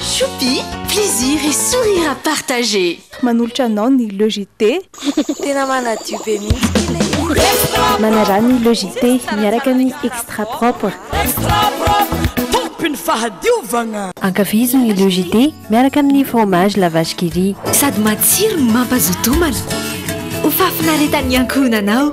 Choupi, plaisir et sourire à partager. Manolotra anao ny Le JT. Tena manadio be mihitsy ity le izy. Manarà ny Le JT miaraka amin'ny Extra Propre. Extra Propre, tompin'ny fahadiovagna. Ankafizo ny Le JT miaraka amin'ny fromage la vache qui rit. Sady matsiro no mampazoto homana. Ho fahafinaretan'ny ankohonanao.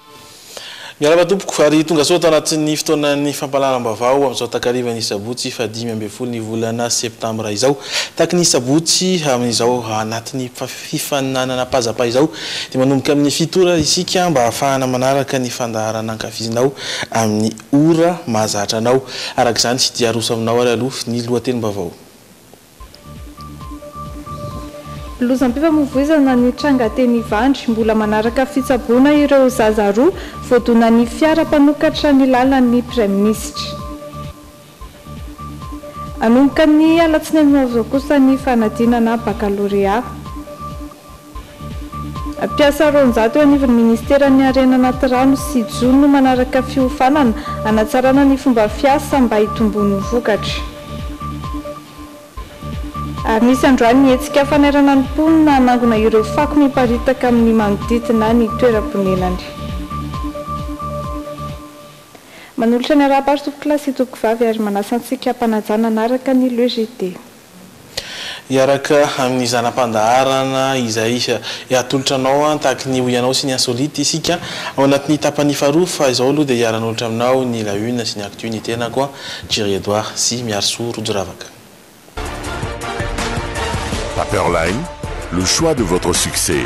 Miarahaba tompoko, ary tongasoa ato anatin'ny fotoanan'ny fampahalalam-baovao amin'izao takarivan'ny sabotsy faha dimy ambin'ny folo ny volana septambra izao. Tahaky ny sabotsy amin'izao anatin'ny fifaninanan'Apazapaha izao dia manomboka amin'ny fito ora isika mba hahafahana manaraka ny fandaharana ankafizinao amin'ny ora mahazatra anao. Araka izany dia aroso aminao ary aloha ny lohatenim-baovao. Lozam-pifamoivoizana nitranga teny Ivandry, mbola manaraka fitsaboana ireo zaza roa voadonan'ny fiara mpanokatra ny lalan'ny Praiminisitra. Hanomboka ny alatsinainy ho avy izao kosa ny fanadinana bakalorea. Mpiasa roanjato eo anivon'ny Ministeran'ny Harena Anaty Rano sy Jono no manaraka fiofanana hanatsarana ny fomba fiasa mba hitomboan'ny vokatra. Ary nisy androany ny hetsika fanairana ny mponina hanangona ireo fako miparitaka amin'ny manodidina ny toeram-ponenany. Manolotra ny arahabato tompokolahy sy tompokovavy ary manasa antsika hampanajana hanaraka ny LEJD. Hiaraka amin'ny zana-pandaharana izay atolotra anao tahaky ny ho ianao sy ny Insolite isika ao anatin'ny tapany faharoa fa izao aloha dia hiara-nolotra aminao ny La Une sy ny Actu ny tenako, Jerry Edouard sy Miarisoa Rojoravaka. Paperline, le choix de votre succès.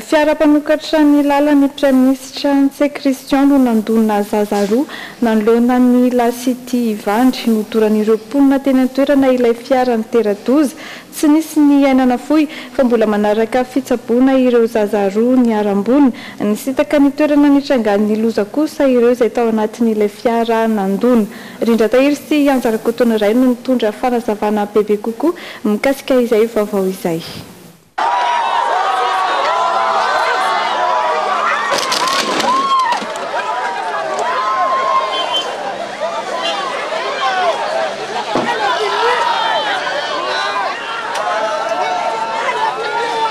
Fiara mpanokatra ny lalan'ny Praiminisitra Ntse Christian no nandona zaza roa nanoloana ny La City Ivandry. Nodoran'ireo mponina teny an-toerana ilay fiara nitera-doza. Tsy nisy ny aina nafoy fa mbola manaraka fitsaboana ireo zaza roa niharam-boina. Nisintaka ny toerana nitrangan'ny loza kosa ireo izay tao anatin'ilay fiara nandona. Rindratahiry sy Anja Rakotonoray no nitondra fanazavana bebe kokoa mikasika izay vaovao izay.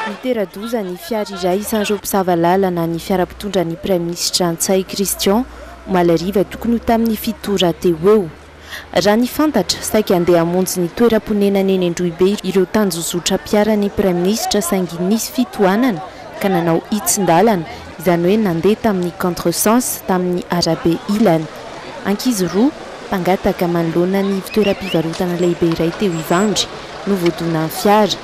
Nitera-doza ny fiara iray isan'ireo mpisava lalana ny fiara mpitondra ny Praiminisitra Ntsay Christian, omaly hariva tokony ho tamin'ny fito ora teo ho eo. Raha ny fantatra, saiky handeha hamonjy ny toeram-ponenany eny Androhibe ireo tanjozotram-piaran'ny Praiminisitra saingy nisy fitohanana ka nanao hitsin-dalana, izany hoe nandeha tamin'ny contre-sens, tamin'ny arabe ilany. Ankizy roa, mpangataka manoloana ny ivon-toeram-pivarotana lehibe iray teo Ivandry, no voadonan'ny fiara.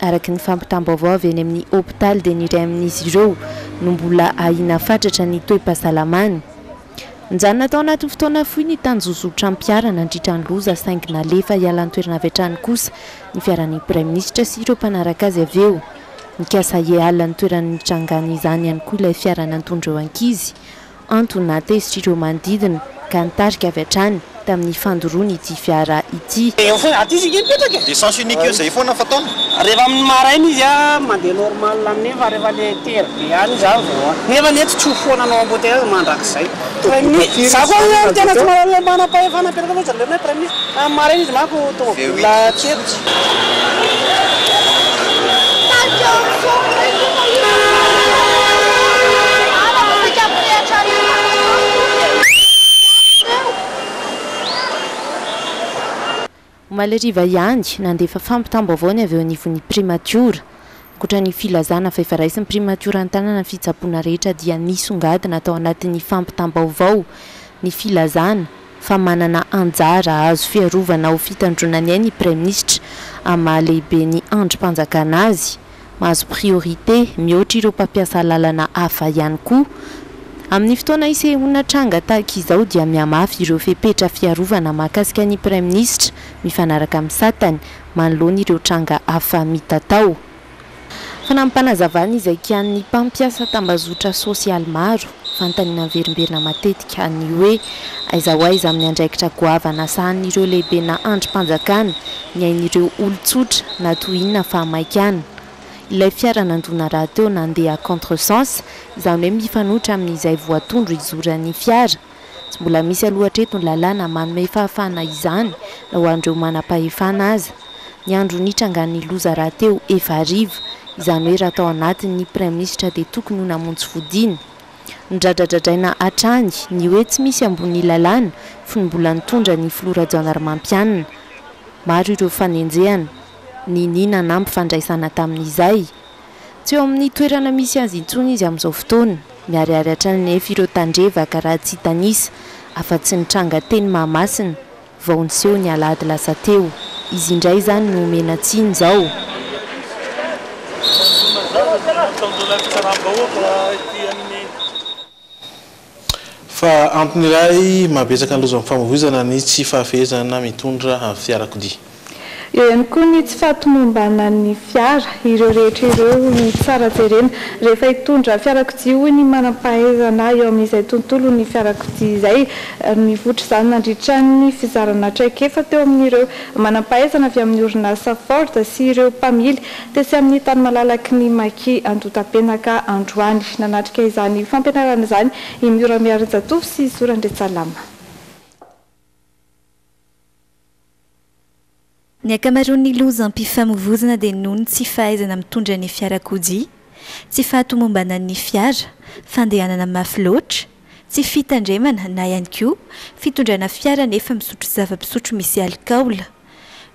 Araka ny fampitam-baovao avy eny amin'ny hopitaly dia ny iray amin'izy ireo no mbola ahiana fatratra ny toe-pahasalamany. Nijanona tao anatin'ny fotoana fohy ny tanjozotram-piara nandritra ny loza saingy nalefa hiala an-toerana avy hatrany kosa ny fiaran'ny praiminisitra sy ireo mpanaraka azy avy eo. Nikasa hiala ny toerana nitrangan'izany ihany koa ilay fiara nantondra ireo ankizy. Antony nahatezitrireo manodidina ka nitarika avy hatrany tamin'ny fandoroany ity fiara ity. Eo foana, aty izy ity mipetraka e! De sens unique io zay foana fataony. Rehefa amin'ny maraina izy a mandeha normal amin'iny fa rehefa le tery be any izy any vao an. Nefa anie tsy tsoa foana anao embouteillage mandrakizay. Prime Minis, za koa anie tena tsy manana le manam-pahefana mipetraka loatra jereo hoe Prime Minis. Tamin'ny maraina izy manko tomobilina tsy etotsy. Omaly hariva ihany, nandefa fampitam-baovao ny avy eo anivon'ny Primatiora. Ankoatra ny filazana fa efa raisin'ny Primatiora an-tanana ny fitsaboana rehetra dia nisongadina tao anatin'ny fampitam-baovao ny filazana, fa manana anjara azo fiarovana ho fitandroana ny ainy Praiminisitra amin'ny maha lehibe ny andrim-panjakana azy, mahazo priorité mihoatra ireo mpampiasa lalana hafa ihany koa. Amin'ny fotoana isehoana tranga tahaka izao dia mihamafy ireo fepetra fiarovana mahakasika ny Praiminisitra mifanaraka amin'ny satany manoloana ireo tranga hafa mitatao. Fanampim-panazavana izay kianin'ny mpampiasa tambazotra sosialy maro, vantany naverimberina matetika ny hoe aiza ho aiza amin'ny andraikitra goavana sahanin'ireo lehibenà andrim-panjakana ny ain'ireo olon-tsotra na toy inona fa maika an, ilay fiara nandona rahateo nandeha contre sens, izany hoe mifanohitra amin'izay voatondro hizoran'ny fiara. Tsy mbola misy aloha hatreto ny lalàna manome fahafahana izany na ho an'ireo manam-pahefana aza. Ny andro nitrangan'ny loza rahateo efa hariva, izany hoe raha tao anatiny ny Praiminisitra dia tokony ho namonjy fodiana. Nodradradradraina hatrany ny hoe tsy misy ambonin'ny lalàna fony mbola nitondra ny Filoha Rajaonarimampianina. Maro ireo fanenjehana, nini nanampy fandraisana tamin'izay. Tsy eo amin'ny toerana misy azy intsony izy amin'izao fotoana. Miharihary hatrany anefa ireo tandrevaka raha tsy hitanisa afa-tsy ny tranga teny Mahamasina vao niseho ny alahady lasa teo. Izy indray izany no omena tsiny izao. Fa antony iray mahabetsaka ny lozan'ny famoizana ny tsy fahafehezana mitondra fiarakodia. Eo ihany koa ny tsy fahatomombanan'ny fiara. Ireo rehetra ireo no tsara jerena rehefa hitondra fiarakodia, hoy ny manam-pahaizana eo amin'izay tontolon'ny fiarakodia izay. Nivoitra izany nandritra ny fizarana traikefa teo amin'ireo manam-pahaizana avy amin'ny orinasa Ford sy ireo mpamily. Tetsy amin'ny tany malalaky ny Maki, Andotapenaka, androany. Nanatrika izany fampianarana izany i Miora Miarinjatovo sy Zora Ndretsalama. Ny ankamaroan'ny lozam-pifamovoizana dia noho ny tsy fahaizana mitondra ny fiarakodia, tsy fahatomombanan'ny fiara, fandehanana mafy loatra, Tsy fitandremana na ihany koa fitondrana fiara nefa misotro zava-pisotro misy alikaola.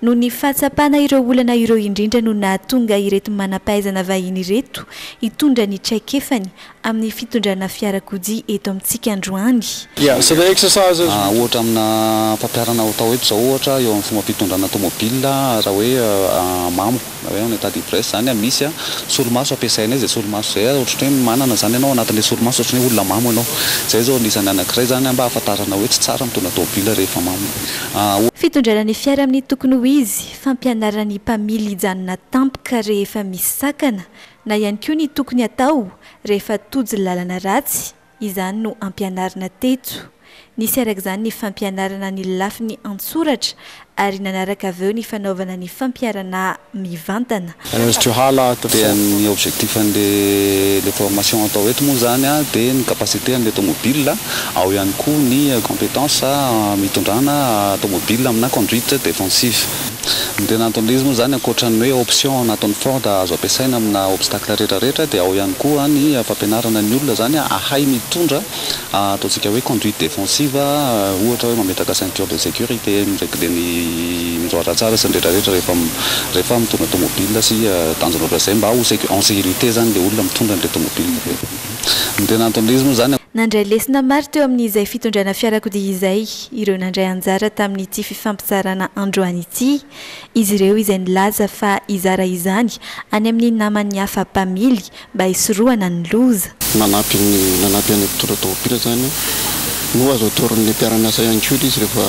Noho ny fahatsapana ireo olana ireo indrindra no nahatonga ireto manam-pahaizana vahiny ireto hitondra ny traikefany amin'ny fitondrana fiarakodia eto amintsika androany. Ohatra amina fampiharana atao eto izao ohatra eo amin'ny fomba fitondrana tomobil raha hoe mamo. Na hoe en etat d'ivresse izany an, misy an, solomaso ampiasainay izay solomaso izay an, ohatrany hoe manana izany ianao anatin'ilay solomaso, ohatrany hoe olona mamo ianao. Izay izao anisany anankiray izany an, mba ahafantarana hoe tsy tsara mitondra tômôbila rehefa mamo. An. Fitondrana ny fiara amin'ny tokony ho izy, fampianarana ny mpamily hijanona tampoka rehefa misy sakana, na ihany koa ny tokony atao rehefa tojo lalana ratsy Izany no ampianarina teto. Nisy araka izany ny fampianarana ny lafiny an-tsoratra ary nanaraka avy eo ny fanaovana ny fampiharana mivantana. Azotrao hala ato dia ny objectif an'le le formation atao eto moa izany dia ny capacité an'le tomobile, ao ihany koa ny competence hitondrana tomobile amina conduite défensive. Ny Renato Lease moa izany ankoatra ny hoe option anatin'ny Ford azo ampiasaina amina obstacle rehetra rehetra dia ao ihany koa ny fampianarana ny olona izany hahay mitondra ataontsika hoe conduite défensive ohatra hoe mametraka ceinture de sécurité, mi-regler ny miroara tsara sy ny rehetra rehetra rehefa rehefa mitondra tomobile sy tanjona ohatra izay mba ho en sécurité izany ilay olona mitondra an'ilay tomobile dia ny Renato Lease moa izany. Nandray lesona maro teo amin'izay fitondrana fiarakodia izay. ireo nandray anjara tamin'ity fifampizarana androany ity, izy ireo izay nilaza fa hizara izany any amin'ny namany hafa mpamily mba hisorohana ny loza. Nanampy ny nanampy an'ilay mpitondra tomobila izany no azo atoron'ny mpiara-miasa ihany koa ilay izy rehefa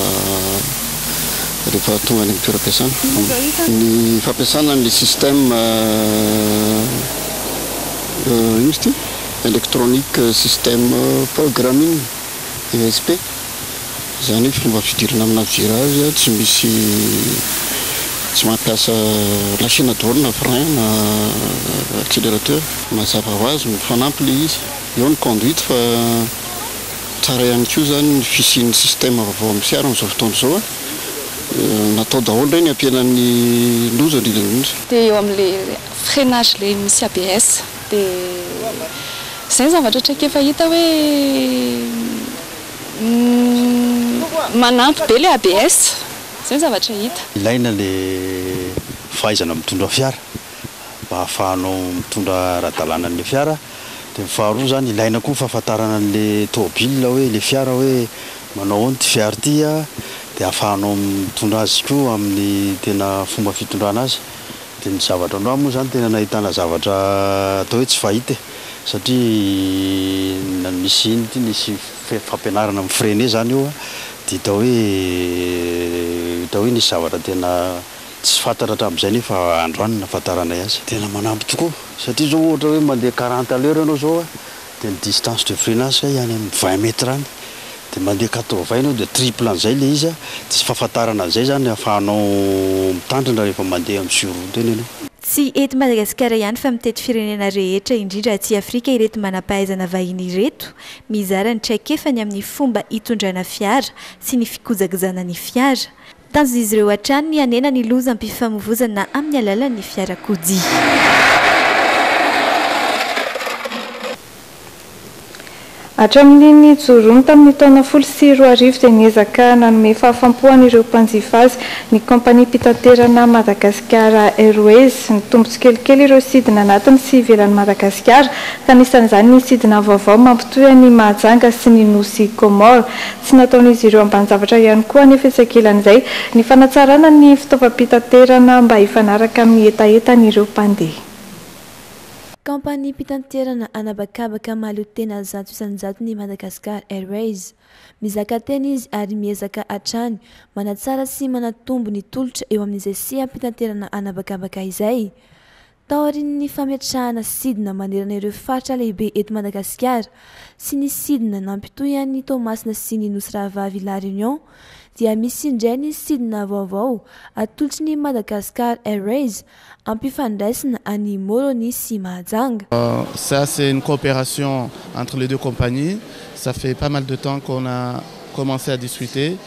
rehefa tonga any amin'ny toeram-piasana. Ny fampiasana an'ilay système ino izy ity? Electronic system programming. ESP, izany hoe fomba fidirana amina vira azy a, tsy misy tsy mampiasa na chaine daholo na frein na accélérateur. Mazava ho azy mifanampy ilay izy, eo ny conduite fa tsara ihany koa izany ny fisian'ny système vaovao amin'ny fiara amin'izao fotoana izao a, natao daholo ireny hampihenana ny loza indrindra indrindra. Dia eo amin'ilay freinage ilay misy ABS. Dia izay ny zavatra traikefa hita hoe manampy be ilay ABS. Izay ny zavatra hita. Ilaina ilay fahaizana mitondra fiara mba ahafahanao mitondra ara-dalàna an'ilay fiara. Dia ny faharoa izany, ilaina koa ny fahafantarana an'ilay tomobilina hoe, ilay fiara hoe manao ahoana ity fiara ity dia ahafahanao mitondra azy koa amin'ny tena fomba fitondrana azy. Dia ny zavatra androany moa izany tena nahitana zavatra atao hoe tsy fahita e! satria na nisy iny ity nisy fe- fampianarana mi freiner izany io dia hita hoe hita hoe nisy zavatra tena tsy fantatra hatramin'izay nefa androany nahafantaranay azy. Tena manampy tokoa satria izao ohatra hoe mandeha quarante à l'heure ianao izao a. Dia ny distance de freinage kay any amin'ny vingt mètres any dia mandeha quatre vingt ianao dia triple an'izay ilay izy dia tsy fahafantarana an'izay izany ahafahanao mitandrina rehefa mandeha amin'ny sur route eny ianao. Tsy eto Madagasikara ihany fa mitety firenena rehetra indrindra aty Afrika ireto manam-pahaizana vahiny ireto mizara ny traikefany amin'ny fomba hitondrana fiara sy ny fikojakojana ny fiara. Tanjon'izy ireo hatrany ny hanena ny lozam-pifamovoizana amin'ny alalan'ny fiarakodia. Hatramin'ny nijoroany tamin'ny taona folo sy roa arivo dia niezaka nanome fahafam-po an'ireo mpanjifa azy ny kaompaniam-pitaterana Madagasikara Airways. Nitombo tsikelikely ireo sidina anatiny sy ivelan'i Madagasikara, ka anisan'izany ny sidina vaovao mampitohy an'i Mahajanga sy ny nosy Comores. Tsy nataon'izy ireo ambanin-javatra ihany koa anefa etsy ankilan'izay ny fanatsarana ny fitaovam-pitaterana mba hifanaraka amin'ny hetahetan'ireo mpandeha. Kaompaniam-pitanterana an'habakabaka mahaleo tena zato isan-jato ny Madagascar Airways. Mizaka tena izy ary miezaka hatrany manatsara sy manatombo ny tolotra eo amin'izay seham-pitanterana an'habakabaka izay. Taorian'ny fametrahana sidina manerana ireo faritra lehibe eto Madagasikara sy ny sidina nampitohy an'i Toamasina sy ny Nosy Rahavavy La Réunion dia misy indray ny sidina vaovao atolotry ny Madagascar Airways hampifandraisina an'i Moroni sy Mahajanga. Ça c'est une coopération entre les deux compagnies, ça fait pas mal de temps qu'on a commencé à discuter.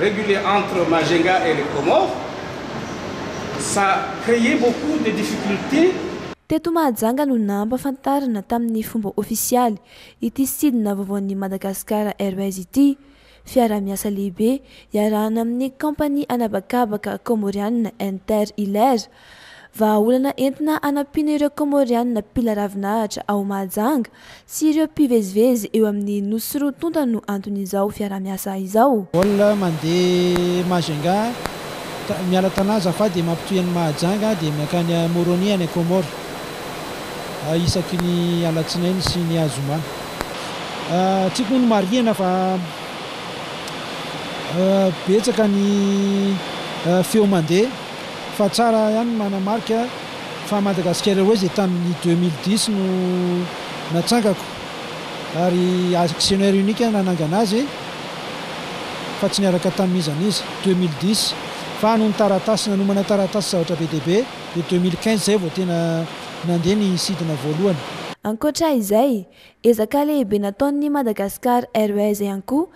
régulier entre Majinga et les Comores, ça créait beaucoup de difficultés. Teto Mahajanga no nampahafantarina tamin'ny fomba ofisialy ity sidina vaovaon'ny Madagascar Airways ity, fiaraha-miasa lehibe iarahana amin'ny kaompania an'habakabaka Kaomorianina Inter Hilaire Vahaolana entina hanampiana ireo Kaomôrianina mpila ravinahitra ao Mahajanga sy ireo mpivezivezy eo amin'ny nosy roa tonta no anton'izao fiaraha-miasa izao. Vol mandeha Majunga miala Tana Zafady dia mampitohy an'i Mahajanga dia miankany à Moroni any Comores isaky ny alatsinainy sy ny azoma. Tsiko moa no marihina fa betsaka ny feo mandeha. Fa tsara ihany ny manamarika fa Madagascar Airways dia tamin'ny deux mille dix no natsangako ary actionnaire unique nanangana azy fa tsy niaraka tamin'iza n'iza. Deux mille dix fa noho ny taratasy, nanomana taratasy zavatra be dia be dia deux mille quinze izay vao tena nandeha ny sidina voalohany. Ankoatra izay, ezaka lehibe nataon'ny Madagascar Airways ihany koa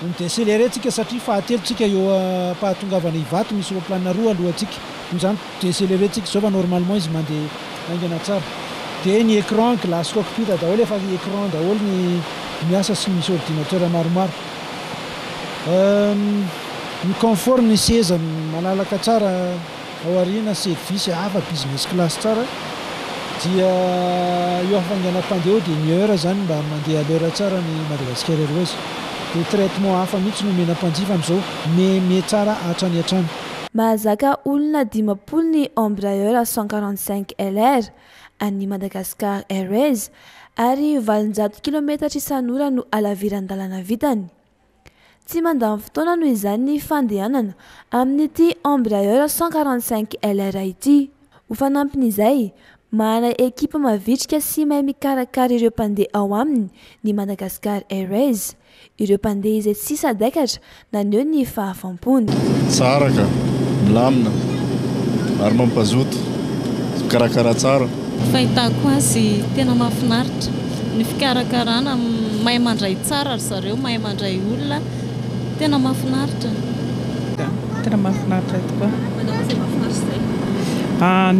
Ny décéléré tsika satria fahatelo tsika eo ampahatongavana Ivato misy roplanina roa aloha tsika noho izany décéléré tsika izao fa normalement izy mande haingana tsara dia ny écran glace cockpit daholo efa écran daholo ny miasa sy misy ordinateur maromaro ny confort ny seza malalaka tsara Ao aoriana service hafa business class tsara dia io hafainganam-pandeha io dia ny heure zany mba mandeha à l'heure tsara ny Madagascar Airways dia traitement hafa mihitsy no omena mpanjifa amzao meme tsara hatrany hatrany. Mahazaka olona dimampolo ny Embraer cent quarante cinq LR an'ny Madagascar Airways ary valonjato kilometatra isan'ora no halaviran-dalana vitany. Tsy mandany fotoana noho izany ny fandehanana amin'ity Embraer cent quarante cinq LR ity. Ho fanampin'izay, manana ekipa mavitrika sy mahay mikarakara ireo mpandeha ao aminy ny Madagascar Airways. Ireo mpandeha izay tsy sadaikatra naneho ny fahafaham-pony. mpony. Tsara ka! Milamina ary mampazoto. Fikarakara tsara. Fahitako azy tena mahafinaritra ny fikarakarana, mahay mandray tsara ry zareo, mahay mandray olona, tena mahafinaritra. Tena mahafinaritra tokoa. Manao izay mahafinaritra izay.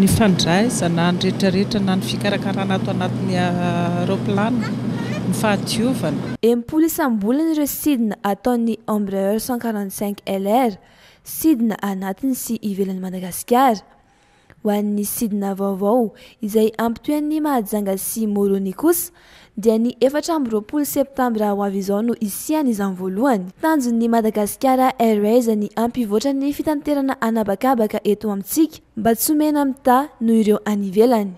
Ny fandraisana, ny rehetra rehetra na ny fikarakarana ato anatin'ny aeroplane, ny fahadiovana. Enimpolo isam-bolana ireo sidina ataon'ny Embraer cent quarante cinq LR, sidina anatiny sy ivelan'i Madagasikara. Ho an'ny sidina vaovao izay hampitoean'ny Mahajanga sy Moroni kosa dia ny efatra amby roapolo septambra ho avy izao no hisian' izany voalohany. Tanjon'ny Madagasikara Airways ny hampivoatra ny fitanterana an'habakabaka eto amintsika mba tsy ho mena mitaha noho ireo any ivelany.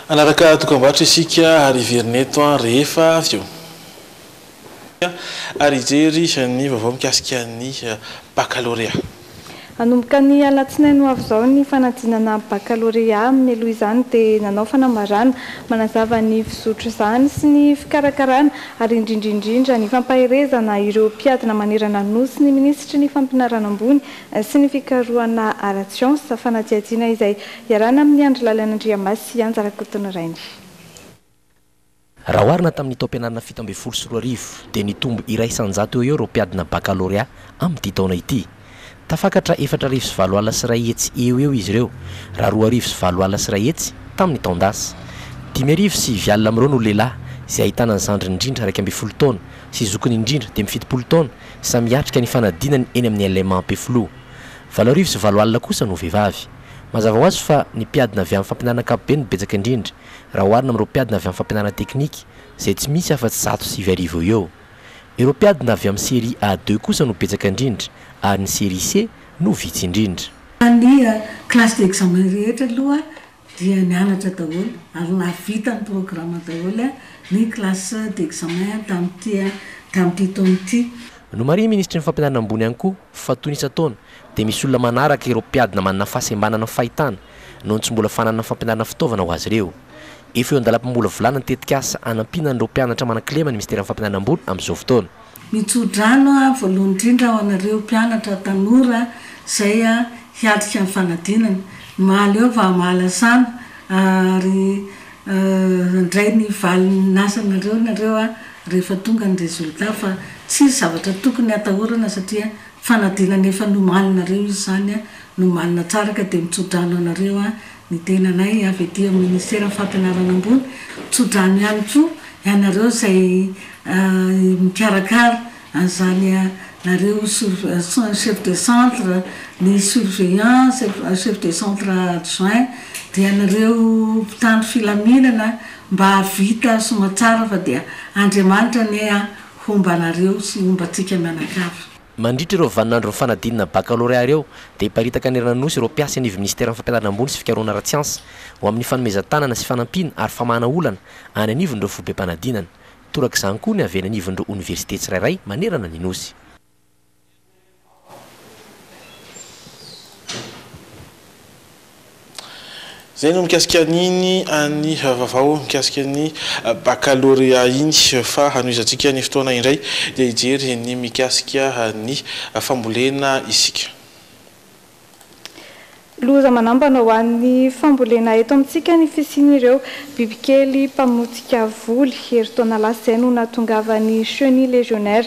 Hanaraka dokambarotra isika ary hiverina eto rehefa avy eo. Ary hijery ny vaovao mikasika ny bakalorea. Hanomboka ny alatsinainy ho avy izao ny fanadinana bakalorea. Mialoha izany dia nanao fanambarana manazava ny fizotr'izany sy ny fikarakarana ary indrindra indrindra ny fampaherezana ireo mpiadina manerana ny Nosy ny minisitry ny Fampianarana ambony sy ny fikarohana ara-tsiansa, fanadihadiana izay iarahana amin'ny Andry Lalana Andriamasy sy Anja Rakotonyrainy. Raha oharina tamin'ny taom-pianarana fito ambin'ny folo sy roa arivo dia nitombo iray isan-jato eo ho eo ireo mpiadina bakalorea amin'ity taona ity. Tafakatra efatra arivo sy valo alina sy iray hetsy eo ho eo izy ireo, raha roa arivo sy valo alina sy iray hetsy tamin'ny taon-dasa. Dimy arivo sy sivy alina amin'ireo no lehilahy, izay ahitana ny zandriny indrindra iraika ambin'ny folo taona sy zokiny indrindra dimy fitopolo taona, Samy hiatrika ny fanadinany eny amin'ny LMA Ampefiloha. Valo arivo sy valo alina kosa no vehivavy. Mazava ho azy fa ny mpiadina avy amin'ny fampianarana ankapobeny no betsaka indrindra, raha oharina amin'ireo mpiadina avy amin'ny fampianarana teknika, izay tsy misy afa-tsy zato sivy arivo eo ho eo. Ireo mpiadina avy amin'ny Série A deux kosa no betsaka indrindra, ary ny Série C no vitsy indrindra. Fa ny classes d'examen rehetra aloha dia nianatra daholo ary nahavita ny programme daholo ny classe d'examen tamin'ity tamin'ity taona ity. Nomarihiny minisitry ny Fampianarana ambony ihany koa fa toy ny isan-taona dia misy olona manaraka ireo mpiadina manana fahasembanana amin'ny fahitana noho ny tsy mbola fananana fampianarana fitaovana ho azy ireo. Efa eo an-dalam-pamolavolana ny tetikasa hanampiana an'ireo mpianatra manan-kilema ny minisiteran'ny Fampianarana ambony amin'izao fotoana. Mitsodrano aho voalohany indrindra ho anareo mpianatra tanora izay hiatrika ny fanadinana. Mahaleo vaha mahalasana ary handray ny valin'ny asanareo nareo rehefa tonga ny résultat fa tsisy zavatra tokony hatahorana satria fanadinana efa nomaninareo izy izany, nomanina tsara ka dia mitsodrano anareo aho Ny tenanay avy aty amin'ny Ministeran'ny Fampianarana Ambony, tso-drano ihany koa ianareo izay mikarakara an'izany, nareo chef de centre, ny surveillant, chef de centre adjoint, dia ianareo mpitandro filaminana mba hahavita soamantsara fa dia Andriamanitra anie homba anareo sy homba antsika mianakavy. Mandritra ireo vaninandron'ny fanadinana bakalorea ireo dia hiparitaka hanerana ny Nosy ireo mpiasa eny ivon'ny Minisiteran'ny Fampianarana ambony sy Fikarohana ara-tsiansa ho amin'ny fanomezan-tanana sy fanampiana ary famahana olana any anivon'ireo foibem-panadinana. Torak'izany koa ny avy eny anivon'ireo oniversite tsirairay manerana ny Nosy. Izay no mikasika an'iny an'ny vaovao mikasika ny bakalorea iny fa hanohizantsika ny fotoana indray dia hijery ny mikasika ny fambolena isika. Loza manambana ho an'ny fambolena eto amintsika ny fisian'ireo bibikely mpamotika voly. Herintaona lasa izay no nahatongavan'ny Chenille légionnaire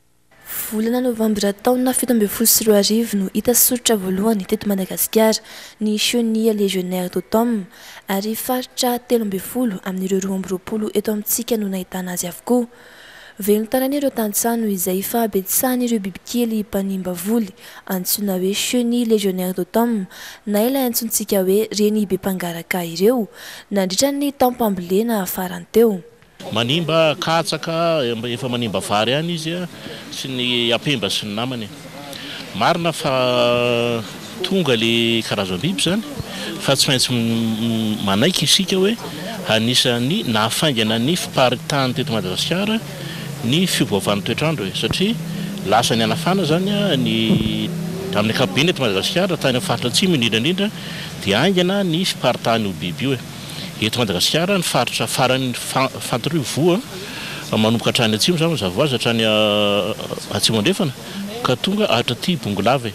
Volana novambra taona fito ambin'ny folo sy roa arivo no hita soritra voalohany teto Madagasikara ny Chenille légionnaire d'automne ary faritra telo ambin'ny folo amin'ireo roa amby roapolo eto amintsika no nahitana azy avokoa. Velon-tanana ireo tantsaha noho izay fahabetsahan'ireo bibikely mpanimba voly antsoina hoe Chenille légionnaire d'automne na ilay antsointsika hoe reny be mpangaraka ireo nandritra ny taom-pambolena farany teo. Manimba katsaka efa manimba vary any izy sy ny ampemba sy ny namany. Marina fa tonga le karazam-biby zany fa tsy maintsy manaiky isika hoe anisan'ny nahafaingana ny fiparitany teto Madagasikara ny fiovaovan'ny toetr'andro e! satria lasa nihanafana zany ny amin'ny ankapobeny eto Madagasikara tany amin'ny faritra atsimo indrindra indrindra dia haingana ny fiparitany io biby io e! Eto Madagasikara, ny faritra farany fantir'io voa, manomboka hatrany atsimo izany mazava ho azy, hatrany atsimo andrefana ka tonga hatraty Bongolave.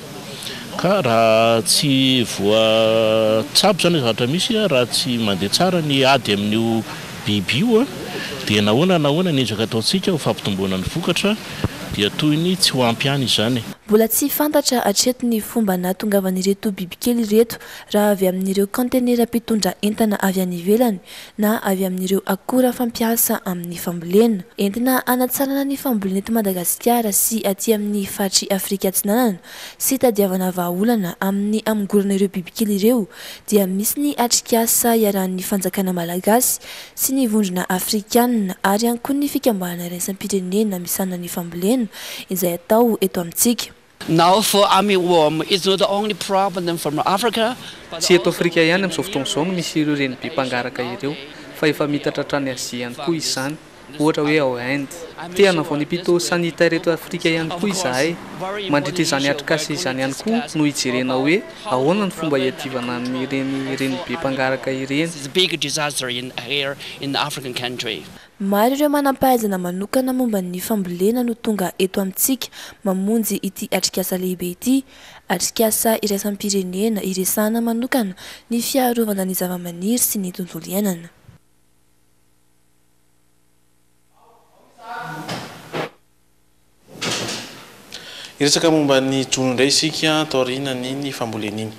Ka raha tsy voa tsabo izany ilay zavatra misy, raha tsy mandeha tsara ny ady amin'io biby io, dia nahoana na ahoana ny ezaka ataontsika ho fampitomboana ny vokatra dia toy ny tsy ho ampy ihany izany. Mbola tsy fantatra hatreto ny fomba nahatongavan'ireto bibikely ireto raha avy amin'ireo kaontenera mpitondra entana avy any ivelany na avy amin'ireo akora fampiasa amin'ny fambolena. Entina hanatsarana ny fambolena eto Madagasikara sy aty amin'ny faritry Afrika Atsinanana sy hitadiavana vahaolana amin'ny hamongorana ireo bibikely ireo dia misy ny atrikasa iarahan'ny fanjakana malagasy sy ny vondrona afrikanina ary ihany koa ny fikambanana iraisam-pirenena misahana ny fambolena izay atao eto amintsika. Now for Army Worm, it's not the only problem from Africa, but Tsy eto also Afrika ihany in amin'izao the fotoana izao no Near misy ireo East and renibỳ Asia and mpangaraka ireo, also fa efa in the miitatra hatrany Azia ihany Far koa East, izany, this ohatra hoe ao Africa. Inde. I'm Te hanao sure this vanim-pito will sanitaire eto improve. Afrika ihany Of koa course, izahay. very Mandritra important izany issue atrikasa where izany ihany koa no hijerena about hoe how to ahoana no fomba prevent and hiadivana control an'ireny of for renibỳ Army mpangaraka Worm. This ireny. is a big disaster in here in African country. Maro ireo manam-pahaizana manokana momba ny fambolena no tonga eto amintsika mamonjy ity atrikasa lehibe ity. Atrikasa iraisam-pirenena iresahana manokana ny fiarovana ny zavamaniry sy ny tontolo iainana. Hiresaka momba ny jono indray isika taorianan'iny fambolena iny.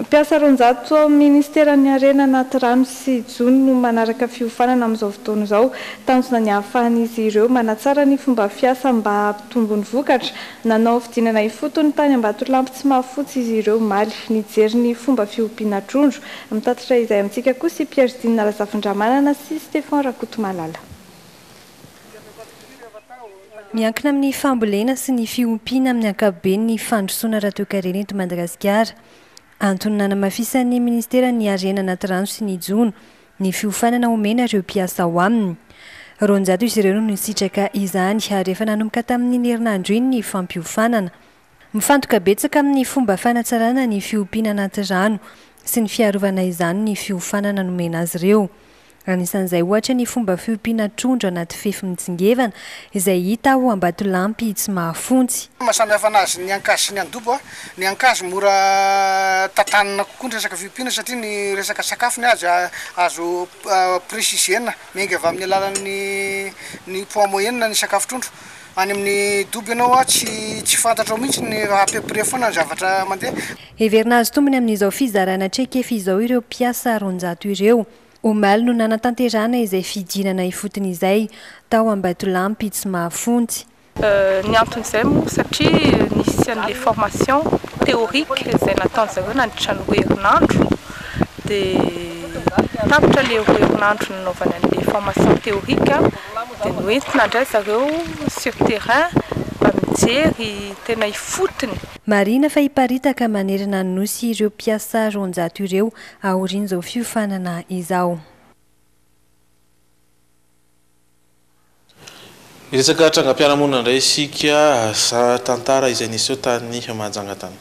Mpiasa roanjato ao amin'ny Minisiteran'ny Harena anaty rano sy jono no manaraka fiofanana amin'izao fotoana izao. Tanjona ny hahafahan'izy ireo manatsara ny fomba fiasa mba hampitombo ny vokatra. Nanao fidinana ifotony tany Ambatolampy tsy mahafotsy izy ireo omaly. Nijery ny fomba fiompiana trondro. Mitatitra izay amintsika kosa i Pierre Dina Razafindramanana sy Stephan Rakotomalala. Miankina amin'ny fambolena sy ny fiompiana amin'ny ankapobeny ny fandrosoana ara-toekarena eto Madagasikara. Antony nanamafisan'ny minisitera ny harena anaty rano sy ny jono, ny fiofanana omena ireo mpiasa ao aminy. Roanjato izy ireo no nisitraka izany ary efa nanomboka tamin'iny herinandro iny ny fampiofanana. Mifantoka betsaka amin'ny fomba fanatsarana ny fiompiana anaty rano sy ny fiarovana izany ny fiofanana nomena azy ireo. Anisan'izay ohatra ny fomba fiompiana trondro anaty fefy mitsingevana izay hita ao Ambatolampy Tsimahafontsy. Ny maha samihafa anazy ny ankazo sy ny andobo, ny ankazo mora tantanina kokoa ny resaka fiompiana satria ny resaka sakafo ny azy azo presiziena miainga avy amin'ny alalan'ny ny poids moyenne ny sakafo trondro. Any amin'ny dobo ianao hoa tsy tsy fantatrao mihitsy ny raha à peu près foana ny zavatra mandeha. Heverina hahazo tombony amin'izao fizarana traikefa izao ireo mpiasa roanjato ireo. Omaly no nanatanterahana izay fidinana ifotony izay, tao Ambatolampy, tsy mahafontsy. Ny anton'izay moa satria nisy an'ilay formation théorique izay nataon'ny zareo nandritra ny roa herinandro, dia tapitra ilay roa herinandro nanaovany an'ilay formation théorique. Dia noentina indray zareo sur terrain mba mijery tena ifotony. Marihina fa hiparitaka manerana ny Nosy ireo mpiasa roanjato ireo aorian'izao fiofanana izao. Miresaka trangam-piarahamonina indray isika, tantara izay niseho tany Mahajanga tany.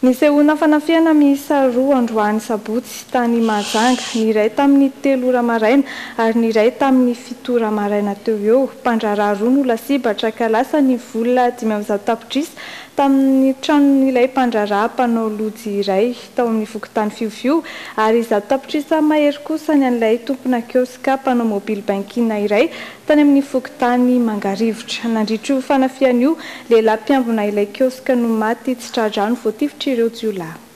Nisehoana fanafihana miisa roa androany sabotsy tany Mahajanga, ny iray tamin'ny telo ora maraina ary ny iray tamin'ny fito ora maraina teo eo. Mpandraharaha roa no lasibatra ka lasa ny vola dimy amby zato tapitrisa tamin'ny tranon'ilay mpandraharaha mpanao lojy iray tao amin'ny fokontany Fiofio ary zato tapitrisa mahery kosa ny an'ilay tompona kioska mpanao mobile banking iray Tany amin'ny fokontany Mangarivotra, nandritra io fanafihana io, lehilahy mpiambina ilay kioska no maty tsy tra-drano voatifitr'ireo jiolahy.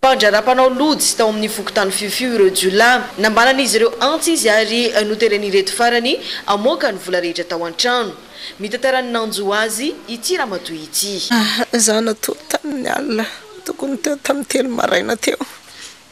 Mpandraharaha mpanao lojy tao amin'ny fokontany Fiofio ireo jiolahy. Nambaran'izy ireo antsy izy ary noteren'ireto farany hamoaka ny vola rehetra tao an-trano. Mitantara ny nanjo azy ity ramatoa ity. Izaho natory tamin'ny alina tokony ho teo tamin'ny telo maraina teo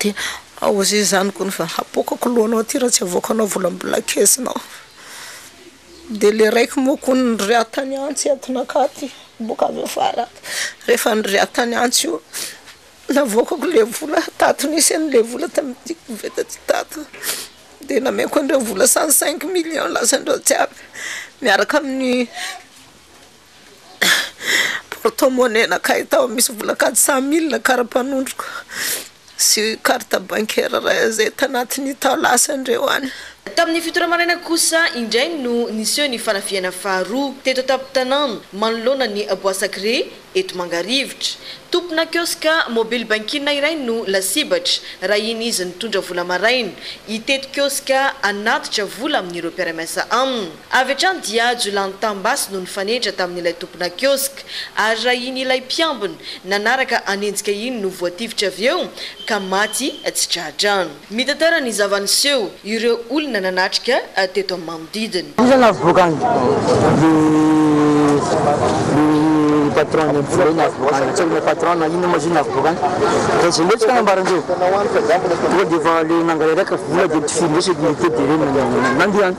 Dia ao zay zany kony fa hapoakako lohanao aty raha tsy avoakanao volambola kesinao. Dia le raiky moa kony niriahy tany antsy entinakà aty boka avy afara aty. Rehefa niriahy tany antsy io navoakako le vola tato nisy any le vola tamin'ity koveta ty tato. Dia nameko andreo vola cent cinq millions lasan'ireo jiaby miaraka amin'ny. porte-monnaie nakay tao misy vola kajy cent mille karapanondroko sy carte bancaire iray izay tanatin'ny tao lasan'ireo any. Tamin'ny fito ora maraina kosa indray no niseho ny fanafihana faharoa teto an-tampon-tanàna manoloana ny Bois Sacré eto Mangarivotra. Tompona kioska mobile banking iray no lasibatra raha iny izy nitondra vola maraina hitety kioska hanatitra vola amin'ireo mpiara-miasa aminy. Avy hatrany dia jiolahin'ny tambasy no nifanehitra tamin'ilay tompona kiosk ary raha iny ilay mpiambina nanaraka hanenjika iny no voatifitra avy eo ka maty tsy tra-drano. Mitantara ny zava-niseho ireo olona nanatrika teto amin'ny manodidina. Iza no navoaka any? Le le patron ny mbola io navoaka any. Tsy haiko le patron na inona moa izy io navoaka any. Dia zay ndretsy ka nambarany zay. Tonga dia efa le nangalariaka vola dia ny tifirindretsy dia nitety dia ireny nandeha any.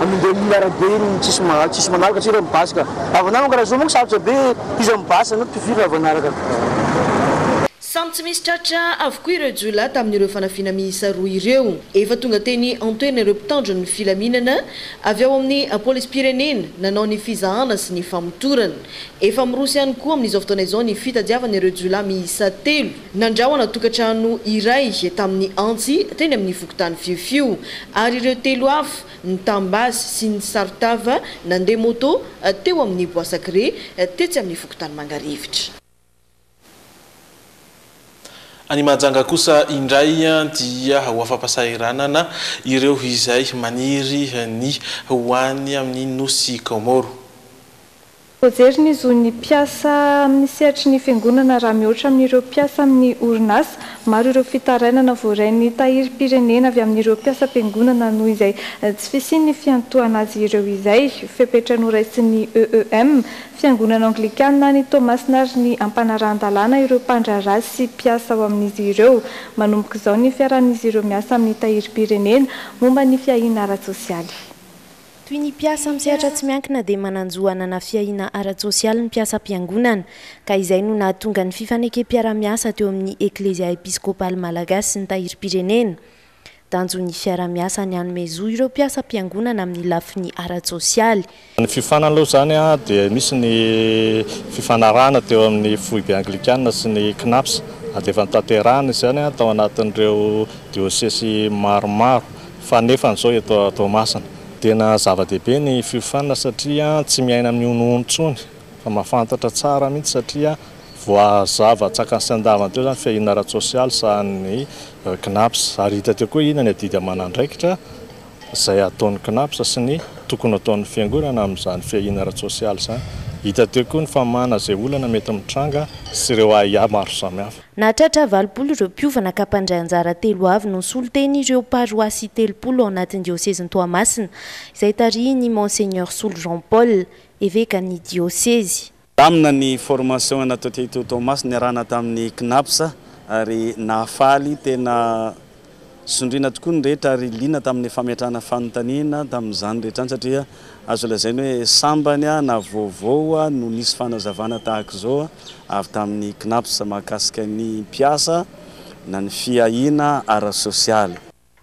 Amindreo mila arabe ny tsisy maha tsisy manaraka tsika ny basy ka. Havana manko raha zao manko sarotra be iza ny basy anao tsy firy raha vao hanaraka. Samy tsy misy tratra avokoa ireo jiolahy tamin'ireo fanafihana miisa roa ireo. Efa tonga teny an-toerana ireo mpitandro ny filaminana avy ao amin'ny polisim-pirenena nanao ny fizahana sy ny famotorana. Efa miroso ihany koa amin'izao fotoana izao ny fitadiavana ireo jiolahy miisa telo. Nandrahona tokantrano iray tamin'ny antsy teny amin'ny fokontany Fiofio ary ireo telo hafa, ny tambasy sy ny saron-tava nandeha moto teo amin'ny Bois Sacré tetsy amin'ny fokontany Mangarivotra. Any Mahajanga kosa indray dia ho afa-pahasahiranana ireo izay maniry ny ho any amin'ny nosy Kaomoro. Voajery ny zon'ny mpiasa amin'ny sehatry ny Fiangonana raha mihoatra amin'ireo mpiasa amin'ny orinasa. Maro ireo fitarainana voarain'ny Tahirim-pirenena avy amin'ireo mpiasam-piangonana noho izay tsy fisian'ny fiantohana azy ireo izay. Fepetra noraisin'ny EEM, Fiangonana Anglikana any Toamasina ary ny ampanarahan-dalàna ireo mpandraharaha sy mpiasa ao amin'izy ireo. Manomboka izao ny fiarahan'izy ireo miasa amin'ny Tahirim-pirenena momba ny fiahiana ara-tsosialy. Toy ny mpiasa amin'ny sehatra tsy miankina dia manan-jo hanana fiahiana ara-tsosialy ny mpiasam-piangonana, ka izay no nahatonga ny fifanekem-piarahamiasa teo amin'ny Eklezia Episkopaly Malagasy sy ny Tahirim-pirenena. Tanjon'ny fiarahamiasa ny hanome zo ireo mpiasam-piangonana amin'ny lafiny ara-tsosialy. Ny fiofanana aloha izany dia misy ny fifanarahana teo amin'ny Foibe Anglikana sy ny Cnaps, ary dia efa notanterahina izany tao anatin'ireo diosesy maromaro. Fa nefa an'izao eto Toamasina dia na zava-dehibe ny fiofanana satria tsy miaina amin'ny honohono intsony fa mahafantatra tsara mihitsy satria voazava tsakany sy andavany teo izany fiahiana ara-tsosialy sahanin'ny Cnaps ary hita teo koa ina ny adidy aman'andraikitra izay ataon'ny Cnaps sy ny tokony hataon'ny fiangonana amin'izany fiahiana ara-tsosialy izany. Hita teo koa ny famahana izay olana mety mitranga sy ireo ahiahy maro samihafa. Nahatratra valopolo ireo mpiovana ka mpandray anjara telo avy no nisolo teny ireo paroasy telopolo ao anatin'ny diosezin'i Toamasina, izay tarihin'i Monseigneur Solo Jean Paul, evekan'ny diosezy. Nilamina ny formation natao teto Toamasina niarahana tamin'ny Cnaps ary nahafaly tena. Sondriana tokoa ny rehetra ary liana tamin'ny fametrahana fanontaniana tamin'izany rehetra izany satria azo lazaina hoe sambany na vaovao no nisy fanazavana tahaka izao avy tamin'ny Cnaps mahakasika ny mpiasa na ny fiahiana ara-sosialy.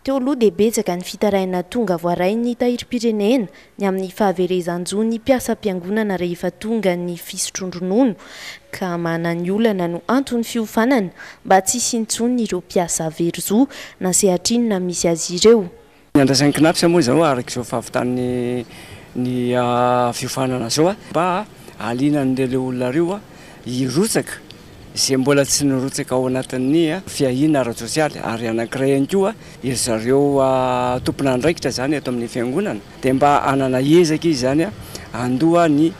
Teo aloha dia betsaka ny fitarihana tonga voaray ny tahirim-pirenena ny amin'ny fahaverezan-jo ny mpiasam-piangonana rehefa tonga ny fisotroan-dronono ka manany olana no anton'ny fiofanana mba tsy hisy intsony ireo mpiasa very zo na sehatrinona misy azy ireo. Ny andraisan'ny Cnaps moa izao araka izao fahavitan'ny ny fiofanana izao mba hahaliana an'ireo olona ireo hirotsaka izay mbola tsy nirotsaka ao anatin'ny fiahiana ara-tsosialy ary anankiray ihany koa ry zareo tompon'andraikitra izany eto amin'ny fiangonana dia mba hanana ezaka izy izany handoa ny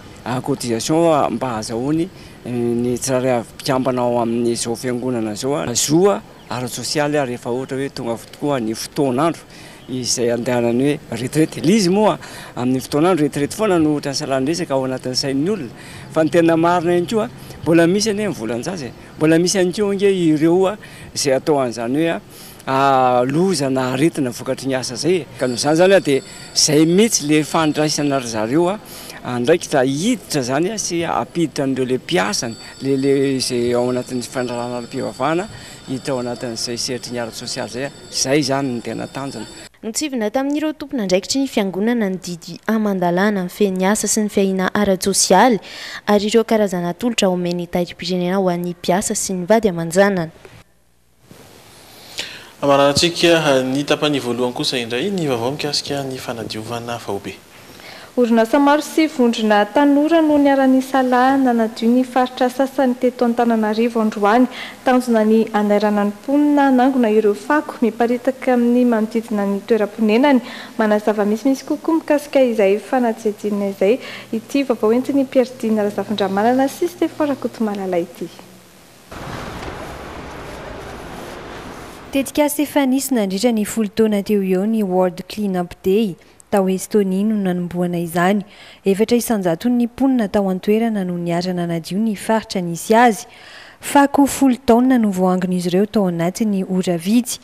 cotisation mba hahazahoany ny tsirairay avy mpikambana ao amin'izao fiangonana izao zo ara-tsosialy ary rehefa ohatra hoe tonga tokoa ny fotoan'andro izay andehanan'ny hoe retraite. Ilay izy moa amin'ny fotoan'andro retraite foana no ohatran'ny salan-dresaka ao anatin'ny sain'ny olona. Fa ny tena marina ihany koa, mbola misy anie ny volan-jaza e! Mbola misy ihany koa ange ireo izay atao an'izany hoe loza na aretina vokatry ny asa izay e! Ka noho izany izany dia izay mihitsy ilay fandraisana ry zareo andraikitra hiditra izany sy hampiditra an'ireo ilay mpiasany Lele izay ao anatin'ny fandralanam-pivavahana hita ao anatin'izay sehatry ny ara-tsosialy izay. Izay izany no tena tanjona. Notsivina tamin'ireo tompon'andraikitry ny Fiangonana ny didy aman-dalàna mifehy ny asa sy ny fiahiana ara-tsosialy ary ireo karazana tolotra omen'ny Tahirim-pirenena ho an'ny mpiasa sy ny vady aman-janany. Hamaranantsika ny tapany voalohany kosa indray ny vaovao mikasika ny fanadiovana faobe. Orinasa maro sy vondrona tanora no niara-nisalahy nanadio ny faritra sasany teto Antananarivo androany. Tanjona ny hanairana ny mponina hanangona ireo fako miparitaka amin'ny manodidina ny toeram-ponenany. Manazava misimisy kokoa mikasika izay fanadihadiana izay ity vaovao entin'i Pierre Dina Razafindramanana sy Stephan Rakotomalala ity. Tetikasa efa nisy nandritra ny folo taona teo ho eo ny World Clean Up Day. Tao Estonia no nanombohana izany. Efatra isan-jaton'ny mponina tao an-toerana no niara-nanadio ny faritra nisy azy. Fako folo taona no voahangon'izy ireo tao anatin'ny ora vitsy.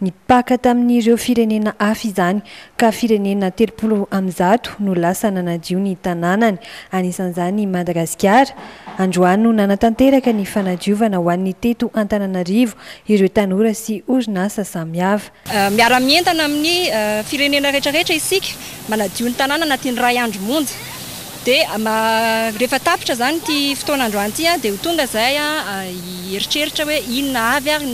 Ny Paka tamin'ireo firenena hafa izany, ka firenena telopolo amin'ny zato no lasa nanadio ny tanànany, anisan'izany i Madagasikara. Androany no nanatanteraka ny fanadiovana ho an'ny teto Antananarivo ireo tanora sy orinasa samihafa. Miara-mientana amin'ny firenena rehetrarehetra isika manadio ny tanàna anatin'ny iray andro monja. Dia rehefa tapitra izany ity fotoana androany ity dia ho tonga izay hieritreritra hoe inona avy ary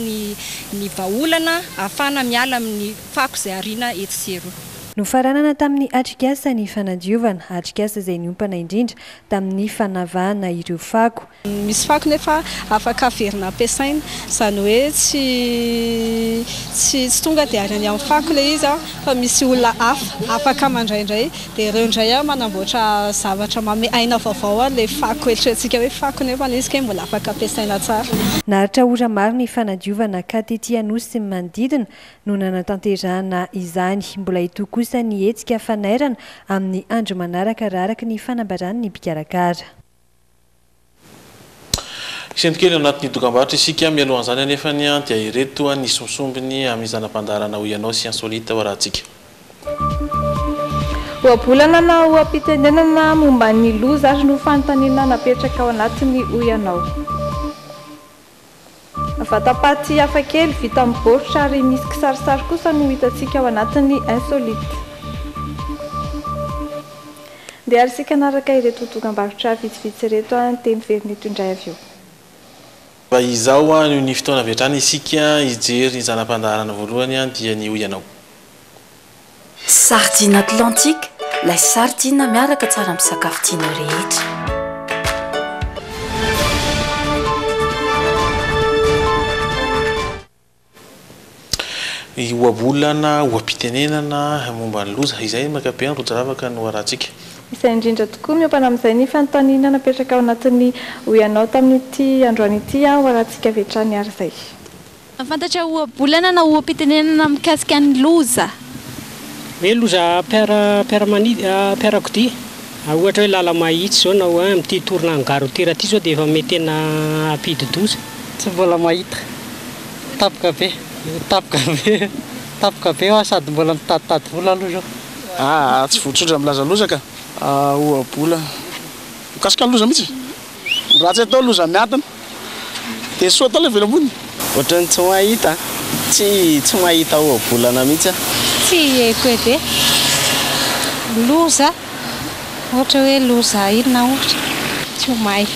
ny vahaolana ahafahana miala amin'ny fako izay ariana etsy sy eroa. Nofaranana tamin'ny atrikasa ny fanadiovana, atrikasa izay niompana indrindra tamin'ny fanavahana ireo fako. Misy fako nefa afaka averina ampiasaina, izany hoe tsy tsy tsy tonga dia any amin'ny fako ilay izy an, fa misy olona hafa afaka mandraindray dia ireo indray an manamboatra zavatra manome aina vaovao an'ilay fako eritreretintsika hoe fako nefa ilay izy kay mbola afaka ampiasaina tsara. Naharitra ora maro ny fanadiovana ka tety Anosy sy ny manodidina no nanatanterahana izany. Mbola hitohy kosa ny hetsika fanairana amin'ny andro manaraka raha araka ny fanambaran'ny mpikarakara. Hisento kely ao anatin'ny dokambarotra isika mialohan'izany anefa anie an, dia ireto ny sombsombiny amin'ny zana-pandaharana hoy ianao sy insolite ao rahatsika. Ohabolana na oha-pitenenana momba ny loza ary ny ho fanontaniana napetraka ao anatiny hoy ianao. Vatam-paty hafa kely vita amin'ny baoritra ary misy kisarisary kosa no hitantsika ao anatin'ny Insolite. Ndeha ary isika hanaraka ireto dokam-barotra vitsivitsy ireto an, dia miverina eto indray avy eo. Mba izao an, noho ny fotoana avy hatrany isika hijery ny zana-pandaharana voalohany an, dia ny hoy ianao. Sardine Atlantique, lay sardine miaraka tsara amin'ny sakafo tianao rehetra. Ohabolana, oha-pitenenana momba ny loza. Izay ny ankapobeny rojo ravaka no arahantsika. Izay indrindra tokoa. Miompa amin'izay ny fanontaniana napetraka ao anatin'ny Hoy Anao tamin'ity androany ity aho, arahantsika avy hatrany ary izay. Mahafantatra ohabolana na oham-pitenenana mikasika ny loza. Hoe loza mpiara-kodia, ohatra hoe lala-mahitsy izao na hoe amin'ity tournant garotira ity izao dia efa mety tena hampidi-doza. Tsy mbola mahita. Tampoka be. Tampoka be. Tampoka be aho sady mbola mitaditady vola aloha izao. Aa, tsy votsotra milaza loza ka. Ohabolana mikasika ny loza mihitsy. Ratsy atao loza miadana. Esoa daholo avela ambony. Ohatran'ny tsy mahita Tsy tsy mahita ohabolana mihitsy aho. Tsy hiheko edy e. Loza, ohatra hoe loza inona ohatra? Tsy ho mahay.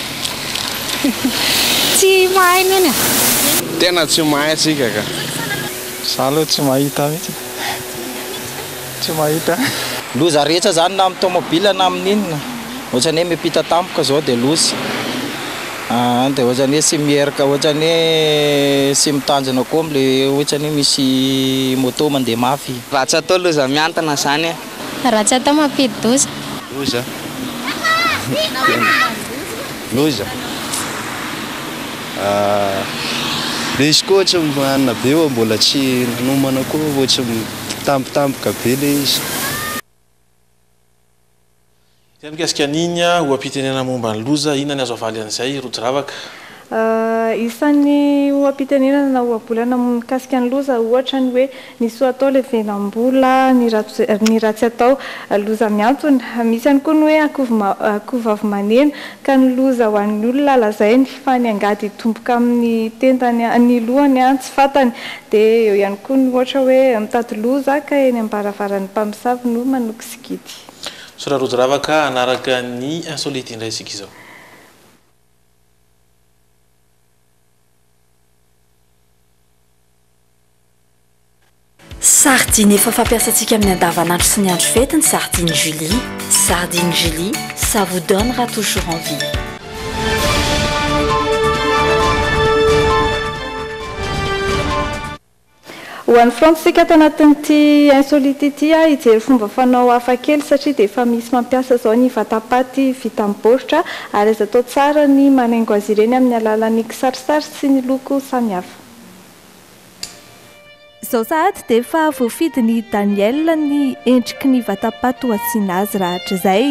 Tsy mahay neny a. Tena tsy mahay tsika ka. Za aloha tsy mahita mihitsy. Tsy mahita. Loza rehetra zany na amin'ny tomobile na amin'ny inona, ohatrany hoe miampita tampoka zao dia loza, aa dia ohatrany hoe tsy mierika ohatrany hoe tsy mitanjona koa amle ohatrany hoe misy moto mandeha mafy. Raha tsy atao loza miantona zany e. Raha tsy atao mampidi-doza. Loza. Loza. Misy koa ohatry ny hanina be fa mbola tsy nanomana koa ohatry ny. Mpitambitamboka be le izy. Izay mikasika an'iny oha-pitenenana momba ny loza, inona ny azo avaly an'izay, Rojravaka? Isan'ny oha-pitenenana na ohabolana mikasika ny loza ohatra ny hoe, ny soa atao levenam-bola, ny ratsy atao loza mihantona. Misy ihany koa ny hoe akoho vavy maneno, ka ny loza ho an'ny olona lazainy fa ny angady hitomboka amin'ny tendany, ny lohany tsy fantany. Dia eo ihany koa ny ohatra hoe mitady loza ka eny am-baravaran'ny mpamosavy no manoko sikidy. Sora rojo rava ka hanaraka ny insolite indray isika izao. Sardine efa fampiasantsika amin'ny andavanandro sy ny andro fety ny sardine Julie. Sardine Julie, ça vous donne ra toujours envie. Ho any frantsa isika ato anatin'ity insolite ity ah, hijery fomba fanao hafa kely satria dia efa misy mampiasa izao ny vatapaty vita amin'ny baoritra ary azo atao tsara ny manaingo azy ireny amin'ny alalan'ny kisarisary sy ny loko samihafa. Izao sahady dia efa voafidin'i Daniel ny endriky ny vatapaty ho asiana azy rahatrizay.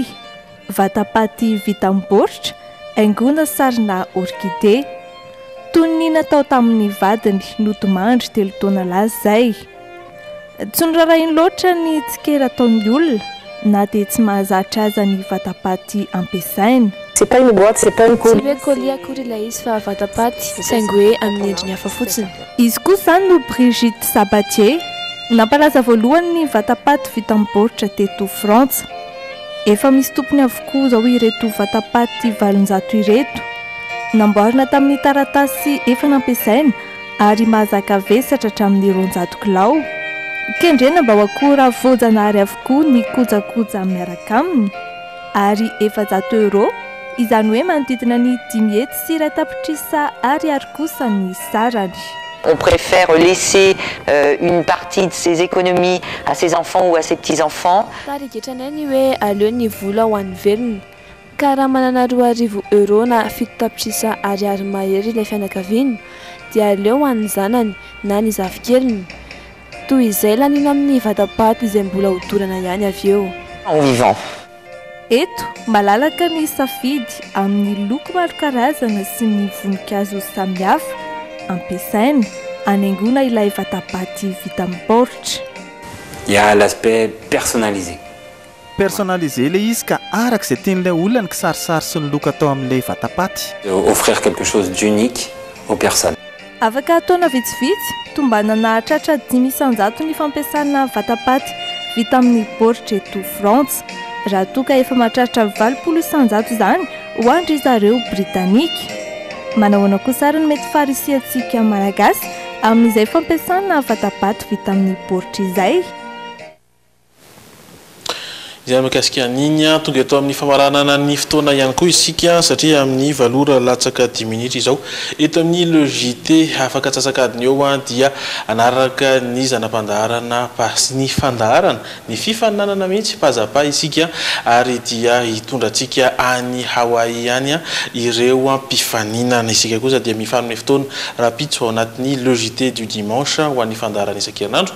Vatapaty vita amin'ny baoritra, haingoana sarina orkide. Toy ny natao tamin'ny vadiny nodimandry telo taona lasa izay. Tsy norarahiny loatra ny tsikera ataon'ny olona na dia tsy mahazatra aza ny vatapaty ampiasainy. Tsy hoe colis akory ilay izy fa vatapaty, saingy hoe amin'ny endriny hafa fotsiny. Izy koa izany no Brigitte Sabatier, nampalaza voalohany ny vatapaty vita amin'ny baoritra teto Frantsa. Efa misy tompony avokoa izao ireto vatapaty valonjato ireto. Namboarina tamin'ny taratasy efa nampiasaina ary mahazaka vesatra hatramin'ny roanjato kilao. Kendrena mba ho akora voajanahary avokoa ny kojakoja miaraka aminy. Ary efajato euros, izany hoe manodidina ny dimy hetsy sy iray tapitrisa ariary kosa ny sarany. On préfère laisser une partie de ses économies à ses enfants ou à ses petits enfants. Tarigetranay ny hoe aleo ny vola ho an'ny velona. Ka raha manana roa arivo euros na fito tapitrisa ariary mahery ilay fianakaviana, dia aleo ho an'ny zanany na ny zafikeliny. Toy izay laniana amin'ny vata-paty izay mbola hodorana ihany avy eo. En vivant. Eto, malalaka ny safidy amin'ny loko maro karazana sy ny voninkazo samihafa ampiasaina hanaingoana ilay vata-paty vita amin'ny baoritra. Il y a l'aspect personnalisé. Personnaliser ilay izy ka araka izay tian'ilay olona ny kisarisary sy ny look atao amin'ilay vatapaty. Offrir quelque chose d'unique aux personnes. Afaka taona vitsivitsy, tombana nahatratra dimy isanjato ny fampiasana vatapaty vita amin'ny baoritra eto Frantsa, raha toa ka efa mahatratra valopolo isanjato izany ho an-dry zareo Britanika. Manahoana kosa ary no mety faharisihantsika Malagasy amin'izay fampiasana vatapaty vita amin'ny baoritra izay? Izay mikasika an'iny. Tonga eto amin'ny famaranana ny fotoana ihany koa isika satria amin'ny valo ora latsaka dimy minitra izao eto amin'ny Le JT afaka antsasak'adiny eo dia hanaraka ny zana-pandaharana sy ny fandaharana, ny fifaninanana mihitsy paza-pa isika ary dia hitondra antsika any Hawaii any ireo mpifaninana. Isika kosa dia mifanome fotoana rahampitso ao anatin'ny Le JT du Dimanche ho an'ny fandaharana isan-kerinandro.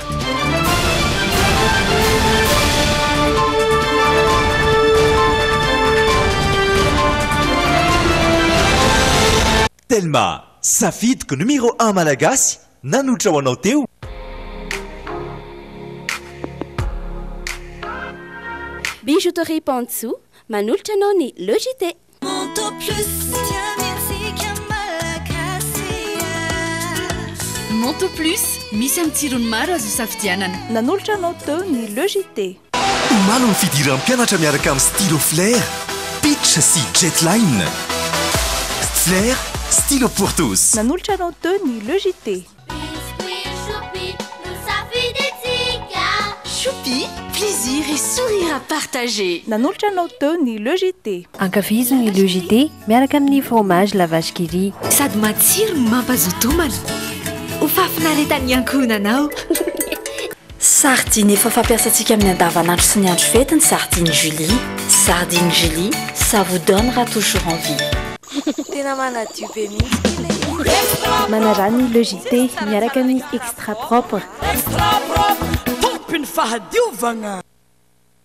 Telma, safidiko numero un malagasy nanotra ho anao teo. Bijouterie Pantsu manolotra anao ny Le JT. Manteau Plus, misy amin'ny tsirony maro azo isafidianana. Nanolotra anao teo ny Le JT. Omaly ny fidiran'ny mpianatra miaraka amin'ny stylo Flair, Pitch sy Jetline. Flair, stylo pour tous. Nanolotra anao teo ny Le JT. Biscuits Choupi no safidintsika. Choupi, plaisir et sourire à partager. Nanolotra anao teo ny Le JT. Ankafizo ny Le JT miaraka amin'ny fromage la vache qui rit. Sady matsiro no mampazoto homana. Ho fahafinaretan'ny ankohonanao. Sardine efa fampiasantsika amin'ny andavanandro sy ny andro fety ny sardine Julie. Sardine Julie, ça vous donnera toujours envie. Tena manadio be mihitsy ity ilay izy. Manarano ny Le JT miaraka amin'ny Extra Propre. Extra Propre, tompy ny fahadiovagna.